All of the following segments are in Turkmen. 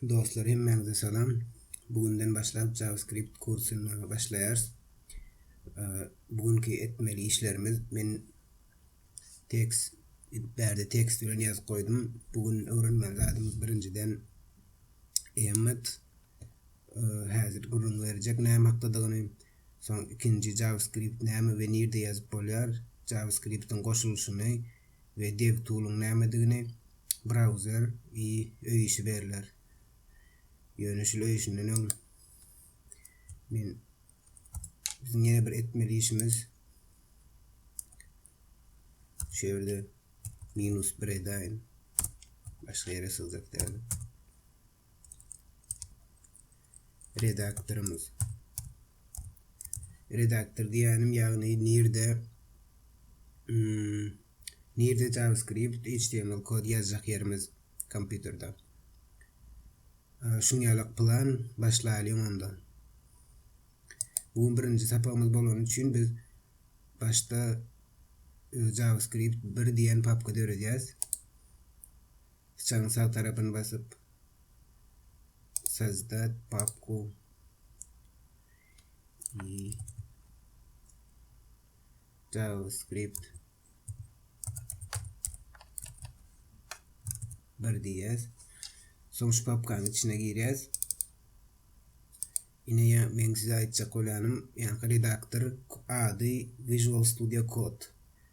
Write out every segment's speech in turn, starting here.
Dostlar hemmäňize salam. Bugünden başlap JavaScript kursyna başlaýarys. Bugünki etmeli işlerimiz men tekst bärde tekst bilen ýazyp goýdum. Bugün öwrenmeli zadymyz birinjiden emmet häzir gürrüň berjek näme hakdadygyny. Soň ikinji JavaScript näme we nirde ýazyp bolýar? JavaScript-iň goşulyşyny we DevTool-yň nämedigini brauzer I öý işi berler. Ýöne şul öý işinden öň men biziň ýene bir etmeli işimiz şu ýerde minus bir edäýin. Başga ýere syzdyryp däl. redaktorymyz. Redaktor diýýänim, ýagny nirde hmm, nirde JavaScript, HTML kod ýazjak ýerimiz kompýuterde. Şuň ýalak plan başlaýyň onda. Bu gün birinji sapagymyz bolany üçin biz başda e, JavaScript 1 diýen papka döredýäs. Syçanyň sag tarapyny basyp Sozdad papku i JavaScript bir diýýäs. Soň şu papkanyň içine girýäs. Ine ya men size aýtjak bolýanym, ýa redaktor ady Visual Studio Code.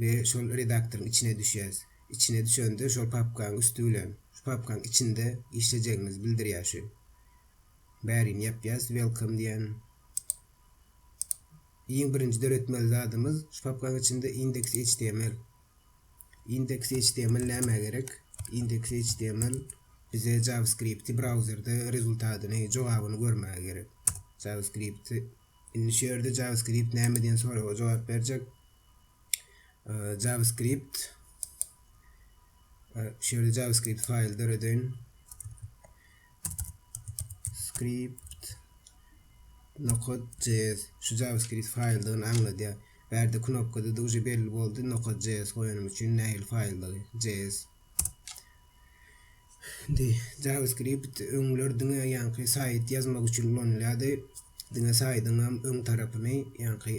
we şol redaktoryň içine düşýäs. Içine düşende şol papkaň üsti bilen şu papkaň içinde işlejegimizi bildirýär şu. Bärini ýapýas welcome diýen. Iň birinji döretmeli zadymyz şu papkaň içinde index.html. Index.html näme gerek? Index.html bize JavaScript-i brauzerde rezultatyny, jogabyny görmäge gerek. JavaScript-i Indi şu ýerde JavaScript näme diýen soraga jogap berjek. JavaScript şu ýerde JavaScript faýl döredeýin. Script nokod.js şu JavaScript faýldygyny aňladýar. Bärde knopkada duje belli boldy nokod.js goýanym üçin nähili faýldygy js Indi JavaScript öňler diňe ýaňky saýt ýazmak üçin ulanylýardy. Diňe saýdyň hem öň tarapyny, ýaňky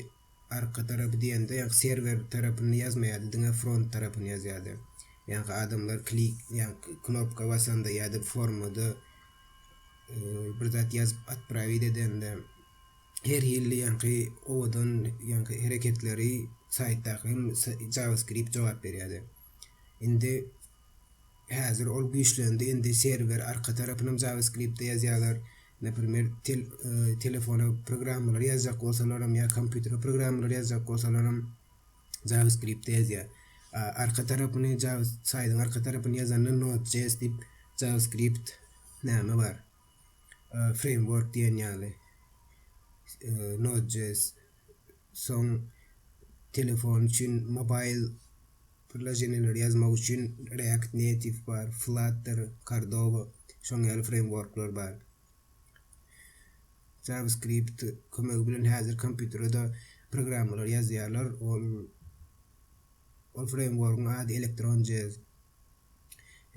arka tarapy diýende, ýaňky serwer tarapyny ýazmaýardy, diňe front tarapyny ýazýardy. Ýaňky adamlar klik, ýaňky knopka basanda ýa-da formada e, bir zat ýazyp atprawit edende her hilli ýaňky owadan ýaňky hereketleri saýtdaky JavaScript jogap berýärdi. Indi häzir ol güýçlendi. Indi serwer arka tarapynam JavaScript-de ýazýarlar. Naprimer, tel, e, telefona programmalary ýazjak bolsalaram ýa kompýutere programmalary ýazjak bolsalaram JavaScript-de ýazýar. A, Arka tarapyny Java saýdyň arka tarapyny ýazanda Node.js diýip JavaScript näme bar? E, Framework diýen ýaly. E, Node.js Soň telefon üçin mobaýl priloženiýeleri ýazmak üçin React Native bar, Flutter, Cordova, şoň ýaly freýmworklar bar. JavaScript kömegi bilen häzir kompýuterede programmalary ýazýarlar. Ol ol freýmworgyň ady Electron.js.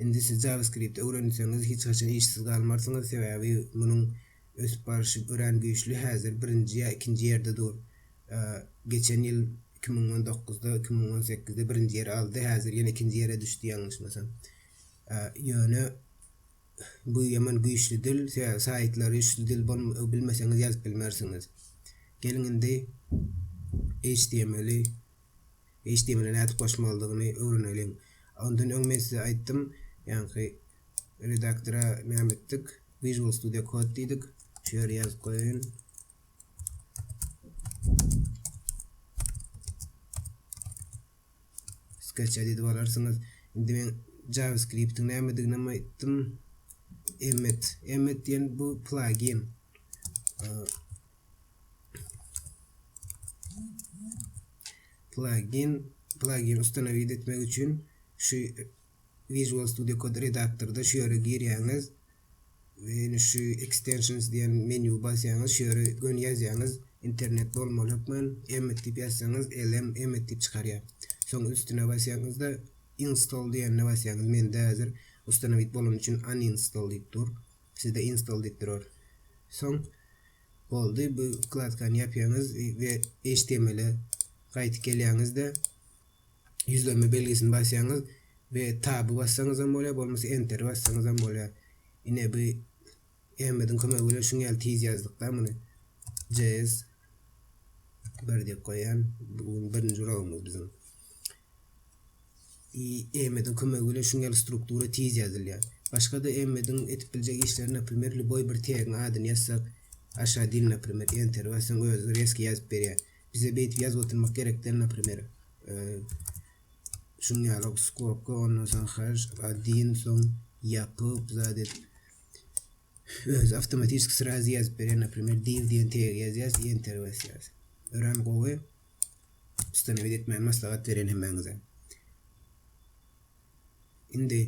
Indi siz JavaScript öwrenseňiz hiç haçan işsiz galmarsyňyz, sebäbi munuň ösüp baryşy örän güýçli, häzir birinji ýa ikinji ýerde dur. Geçen ýyl iki müň on dokuzda, iki müň on sekizde birinji ýeri aldy, häzir ýene ikinji ýere düşdi ýalňyşmasam. Ýöne bu ýaman güýçli dil, saýtlary üçli dil bilmeseňiz ýazyp bilmersiňiz. Geliň indi HTML-i HTML-e nädip goşmalydygyny öwreneliň. Ondan öň men size aýtdym, ýaňky redaktora näme etdik? Visual Studio Code diýdik. Şu ýere ýazyp goýaýyn. Sketch edit bararsyňyz. Indi men JavaScript-iň nämedigini hem aýtdym. Emmet. Emmet diýen bu plugin. Plugin plugin ustanowit etmek üçin şu Visual Studio Code redaktorda şu ýere girýäňiz we ýene şu extensions diýen menýu basýaňyz şu ýere gön ýazýaňyz internet bolmaly hökman emmet diýip ýazsaňyz lm emmet diýip çykarýar soň üstüne basýaňyzda install diýende basýaňyz mende häzir ustanowit bolany üçin uninstall diýip dur Sizde install diýip durar. Soň boldy bu wkladkany ýapýaňyz we HTML-e gaýtyp gelýäňizde ýüzlenme belgisini basýaňyz we tab-y bassaňyz hem bolýar, bolmasa enter bassaňyz hem bolýar. Ine bu Ähmediň kömegi bilen şuň ýaly tiz ýazdyk-da muny. JS 1 diýip goýýan. Bu birinji uragymyz biziň. I. Emmediň kömegi bilen şuň ýaly struktura tiz ýazylýar. Başga-da Emmediň edip biljek işleri naprimer lýuboý bir tegiň adyny ýazsak, aşa dil naprimer, Enter bassaň özi rezki ýazyp berýär. Bize beýdip ýazyp oturmak gerek däl naprimer, şuň ýaly skobka ondan soň haş adin soň ýapyp zat edip özi awtomatiski srazy ýazyp berýär naprimer div diýen tegi ýazýas Enter basýas. Örän gowy. Ustanewid etmäni maslahat berýän hemmäňize. Indi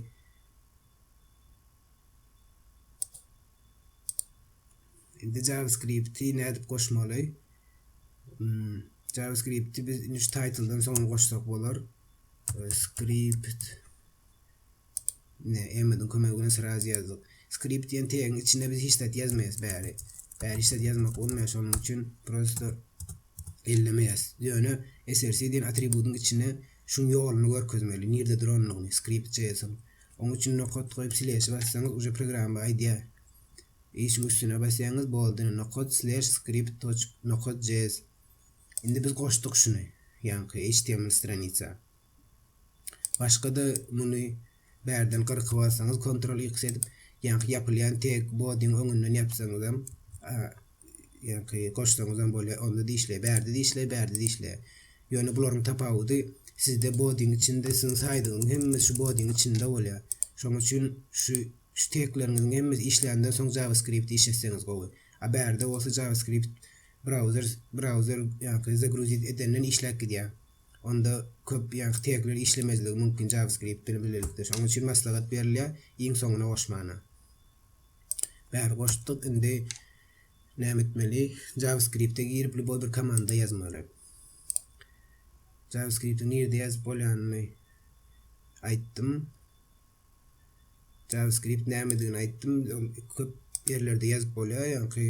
Indi JavaScript-i nädip goşmaly? Hmm, JavaScript-i biz indi şu title-dan soňra goşsak bolar. Script Ine, Emmadiň kömegi bilen sraz ýazdyk. Skript diýen tegiň içinde biz hiç zat ýazmaýas bäri. Bäri hiç zat ýazmak bolmaýar, şonuň üçin prosto ellemeýäs. Ýöne src diýen atributyň içine şuň ýoluny görkezmeli, nirde durandygyny Script.js-iň. Oň üçin nokat goýup sleşi bassaňyz uje programma aýdýar. I şuň üstüne basýaňyz boldy ine nokat sleş script toç nokat js. Indi biz goşduk şuny ýaňky html stranitsa. Başga-da muny bärden gyrkyp alsaňyz Ctrl-X edip, ýaňky ýapylýan teg body-ň öňünden ýapsaňyzam, ýaňky goşsaňyzam bolýar. Onda dişleýär, bärde dişleýär, bärde dişleýär. Ýöne bularyň tapawudy, sizde body-ň içinde siziň saýdygyňyz hemmesi şu body-ň içinde bolýar. Şonuň üçin şu şu tegleriňiziň hemmesi işländen soň JavaScript işletseňiz gowy. A bärde bolsa JavaScript brauzer brauzer ýaňky zagruzit edenden işläp gidýär. Onda köp ýaňky tegler işlemezligi mümkin JavaScript bilen bilelikde. Şonuň üçin maslahat berilýär iň soňuna goşmana. Bäri goşduk, indi näme etmeli? JavaScript-e girip lýuboý bir komanda ýazmaly. JavaScript-i nirde ýazyp bolýanyny aýtdym. JavaScript nämedigini aýtdym. Köp ýerlerde ýazyp bolýar, ýaňky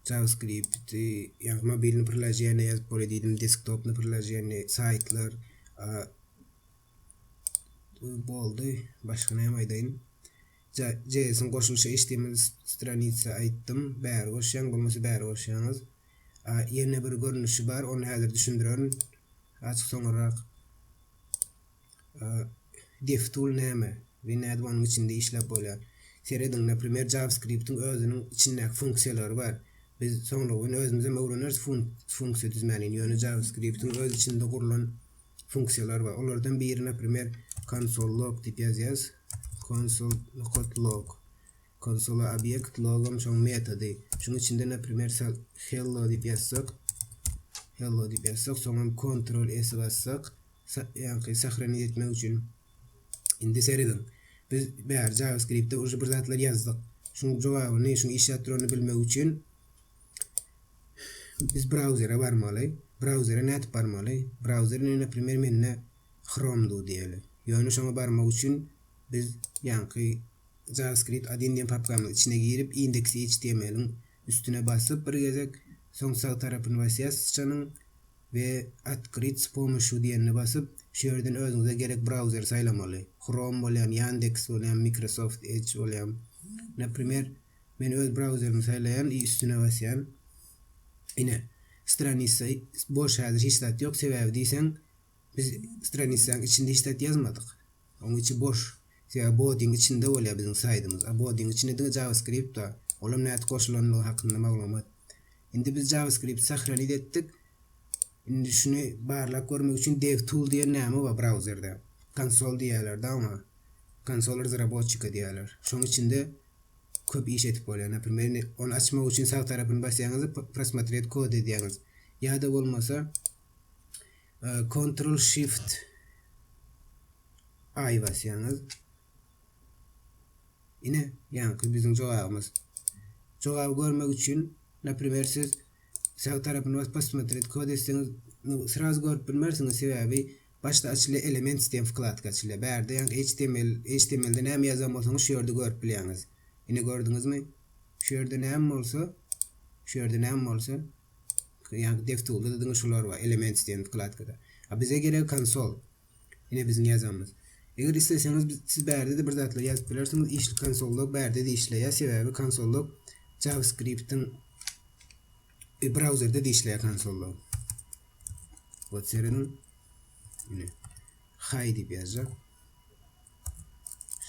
JavaScript, ya mobilni priloženiýe ýazyp bolýar diýdim, desktopny priloženiýe, saýtlar, boldy. Başga näme aýdaýyn? JS-iň goşulşy HTML stranitsa aýtdym. Bäri goşýan, bolmasa bäri goşýaňyz. Ýene bir görnüşi bar, ony häzir düşündirerin. Açyk soňurrak. DevTool näme we nädip onuň içinde işläp bolýar? Serediň, naprimer, JavaScript-iň özüniň içindäki funksiýalary bar. Biz soňra gün özümizem öwreneris funksiýa düzmänini, ýöne JavaScript-iň öz içinde gurlan funksiýalary bar. Olardan biri, naprimer, konsol log diýip ýazýarys. Konsol nokat log. Konsola obýekt, logam şoň metody. Şuň içinde, naprimer, hello diýip ýazsak, hello diýip ýazsak, soňam Ctrl S bassak, Ýaňky sahrany etmek üçin indi serediň. Biz bäri JavaScriptde uje bir zatlar ýazdyk. Şuň jogabyny, şuň işläp duranyny bilmek üçin biz brauzere barmaly. Brauzere nädip barmaly? Brauzer indi naprimer mende Chrome du diýeli. Ýöne şoňa barmak üçin biz ýaňky JavaScript 1 diýen papkamyň içine girip index.html-iň Üstüne basyp bir gezek, soň sag tarapyny basýas syçanyň we Otkryt s pomoshu diýenine basyp, şu ýerden özüňize gerek brauzeri saýlamaly. Chrome bolýam, Yandex bolýam, Microsoft Edge bolýam. Naprimer, men öz brauzerimi saýlaýan i üstüne basýan. Ine, stranisa boş häzir hiç zat ýok, sebäbi diýseň biz stranitsaň içinde hiç zat ýazmadyk. Oň içi boş. Sebäbi bodiň içinde bolýar biziň saýdymyz. A bodiň içinde diňe JavaScript-da. Olam nädip goşulandygy hakynda maglumat. Indi biz JavaScript-i sahraniz etdik. Indi şuny barlap görmek üçin DevTool diýen näme bar brauzerde. Konsol diýýärler-de oňa. Konsol razraboçika diýýärler. Şoň içinde köp iş edip bolýar. Naprimer, indi ony açmak üçin sag tarapyny basýaňyz-da prosmotret kod edýäňiz. Ýa-da bolmasa Kontrol Shift I basýaňyz. Ine, ýaňky biziň jogabymyz. Jogaby görmek üçin, naprimer, siz sag tarapyny basyp Posмотреть kod etseňiz, srazu görüp bilmersiňiz, sebäbi başda açylýar Elements diýen wkladka açylýar. Bärde ýaňky HTML, HTML-de näme ýazan bolsaňyz şu ýerde görüp bilýäňiz. Ine gördüňizmi? Şu ýerde näme bolsa, şu ýerde näme bolsa, Ýaňky DevTools-da diňe şular bar, Elements diýen wkladkada. A bize geregi konsol. Ine biziň ýazanymyz. Eger isleseňiz biz siz bärde-de bir zatlar ýazyp bilersiňiz. Işli konsol-log bärde-de işleýär, sebäbi konsol-log JavaScript-iň e, brauzerde-de işleýär konsol-log. Wot serediň. Ine. Hi diýip ýazjak.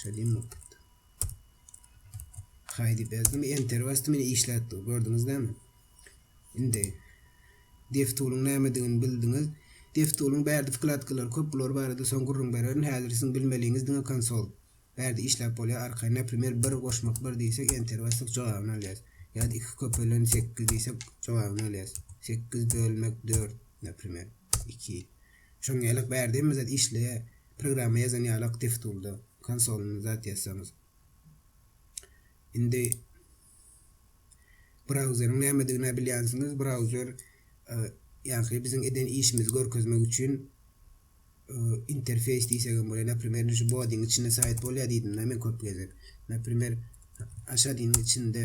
Şeýle diýmok. Hay diýip ýazdym. Enter basdym, indi işläp dur. Gördüňiz näme? Indi DevTool-yň nämedigini bildiňiz. DevTool-yň bärde wkladkalary köp, bular barada soň gürrüň bererin. Häzir siziň bilmeliňiz diňe konsol. Bärde işläp bolýar, arkaýyn. Naprimer, bir goşmak bir diýsek, Enter bassak jogabyny alýarys. Ýa-da iki köpelen sekiz diýsek, jogabyny alýarys. Sekiz bölmek dört, naprimer, iki. Şoň ýaly bärde hemme zat işleýär. programma ýazan ýalyk DevTool-da konsolynda zat ýazsaňyz. Indi brauzeriň nämedigini bilýänsiňiz. Brauzer e, ýagny biziň eden işimizi görkezmek üçin e, interfeýs diýsek hem bolar. Naprimer, şu bodiň içinde saýt bolýar diýdim-de men köp gezek. Naprimer, aşadynyň içinde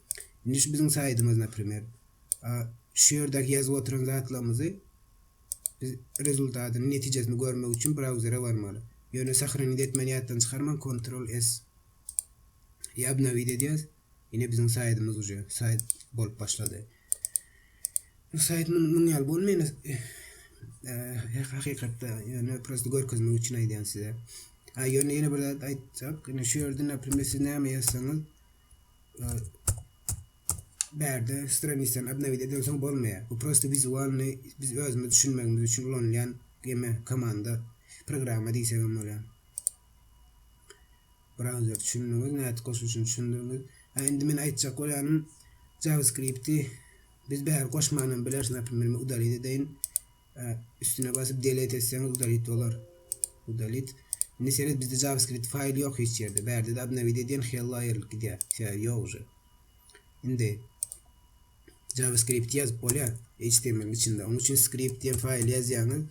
Indi şu biziň saýtymyz naprimer. A şu ýerdäki ýazyp oturan zatlarymyzy biz rezultatyny, netijesini görmek üçin brauzere barmaly. Ýöne sahraniz etmän ýatdan çykarman kontrol S i obnowit edýäs. Ine biziň saýtymyz uje saýt bolup başlady. Bu saýt munuň ýaly bolmaýan e, hakykatda ýöne prosta görkezmek üçin aýdýan size. Ha ýöne ýene bir zat aýtjak. Ine şu ýerde naprimer siz näme ýazsaňyz Bärde straniçany obnowit edensoň bolmaýar. Bu prosta wizualny biz özümiz düşünmegimiz üçin ulanylýan geme komanda programma diýsegem bolýar. Browser düşündiňiz, nädip goşulşyny düşündiňiz. Ha indi men aýtjak bolýanym JavaScript-i biz bäri goşmanam bileris, naprimýr, men udalit edeýin. Üstüne basyp delete etseňiz udalit bolar. Udalit. Indi seret bizde JavaScript faýl ýok hiç ýerde. Bärde de obnowit edýän hello aýrylyp gidýär. Sebäbi ýok uje. Indi JavaScript ýazyp bolýar HTML-iň içinde. Onuň üçin script diýen faýly ýazýaňyz.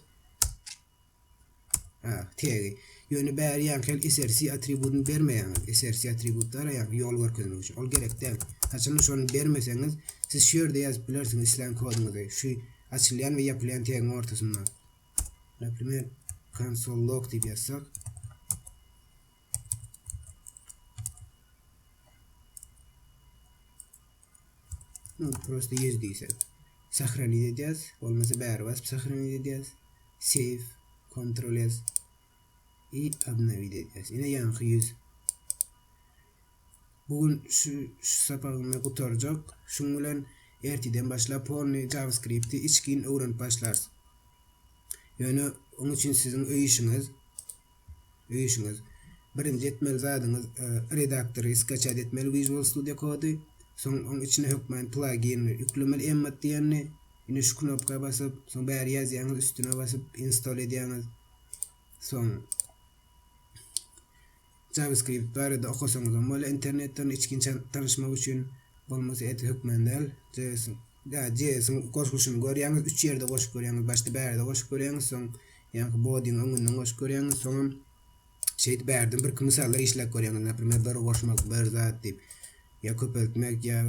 A. Tegi. Ýöne bäri ýaňky src atributyny bermeýäňiz. Src atributy araýan ýol görkezmek üçin. Ol gerek däl. Haçanda şony bermeseňiz, siz şu ýerde ýazyp bilersiňiz islän koduňyzy. Şu açylýan we ýapylýan tegiň ortasynda. Naprimer, konsol log diýip ýazsak. No, prosta ýer diýsek. Sahraniz edýäs. Bolmasa bäri basyp sahraniz edýäs. Save, Ctrl S. I obnowit edýäs. Ine ýaňky ýüz. Bu gün şu şu sapagynda gutarjak. Şuň bilen erteden başlap polny JavaScript-i içgin öwrenip başlarys. Ýöne onuň üçin siziň öý işiňiz. öýüşiňiz. Birinji etmeli zadyňyz redaktory skaçat etmeli Visual Studio Code-y, soň oň içine hökmany plagini ýüklemeli Emmet diýenini, indi şu knopka basyp, soň bäri ýazýaňyz üstüne basyp install edýäňiz. Soň JavaScript barada okasaňyzam bolar internetden içginç tanyşmak üçin, bolmasa edil hökmany däl JS. Da Jesuň goşguşyny görýäňiz, üç ýerde goşup görýäňiz, başda bärde goşup görýäňiz, soň ýaňky Bodiň öňünden goşup görýäňiz, soňam şeýdip bärden birki mysallar işläp görýäňiz, naprimer bir goşmak, bir zat diýip, ýa köpeltmek, ýa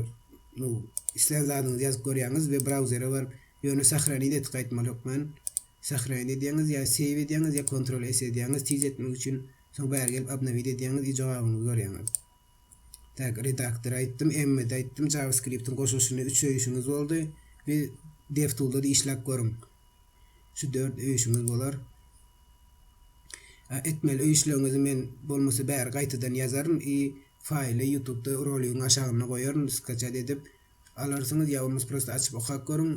nu islän zadyňyzy ýazyp görýäňiz we brauzere baryp, ýöne sahranit et gaýtmaly ýok, men sahranit edýäňiz, ýa save edýäňiz, ýa kontrol s edýäňiz tiz etmek üçin, soň bäri gelip obnowit edýäňiz i jogabyňyzy görýäňiz. Tag redaktor aýtdym, Emmet aýtdym, JavaScript-iň goşulşyny üç öýüşiňiz boldy. Bir DevTool-da işläp görüň. Şu dört öýüşiňiz bolar. A etmeli öýüşleriňizi men bolmasa bäri gaýtadan ýazaryn i faýly YouTube-da roligiň aşagynda goýaryn skaçat edip. alarsyňyz ýa bolmasa prosta açyp okap görüň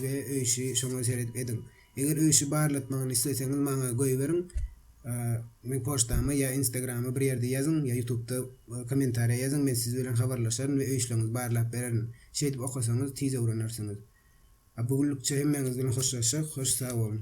we öýşi şoňa seredip ediň. Eger öýşi barlatmagyny isleseňiz maňa goýberiň meň poçtama ýa instagrama bir ýerde ýazyň ýa ýutubda kommentariýa ýazyň men siz bilen habarlaşaryn we öýşleriňizi barlap bererin. Şeýdip okasaňyz tiz öwrenersiňiz. A bu günlükçe hemmäňiz bilen hoşlaşjak hoş sag boluň.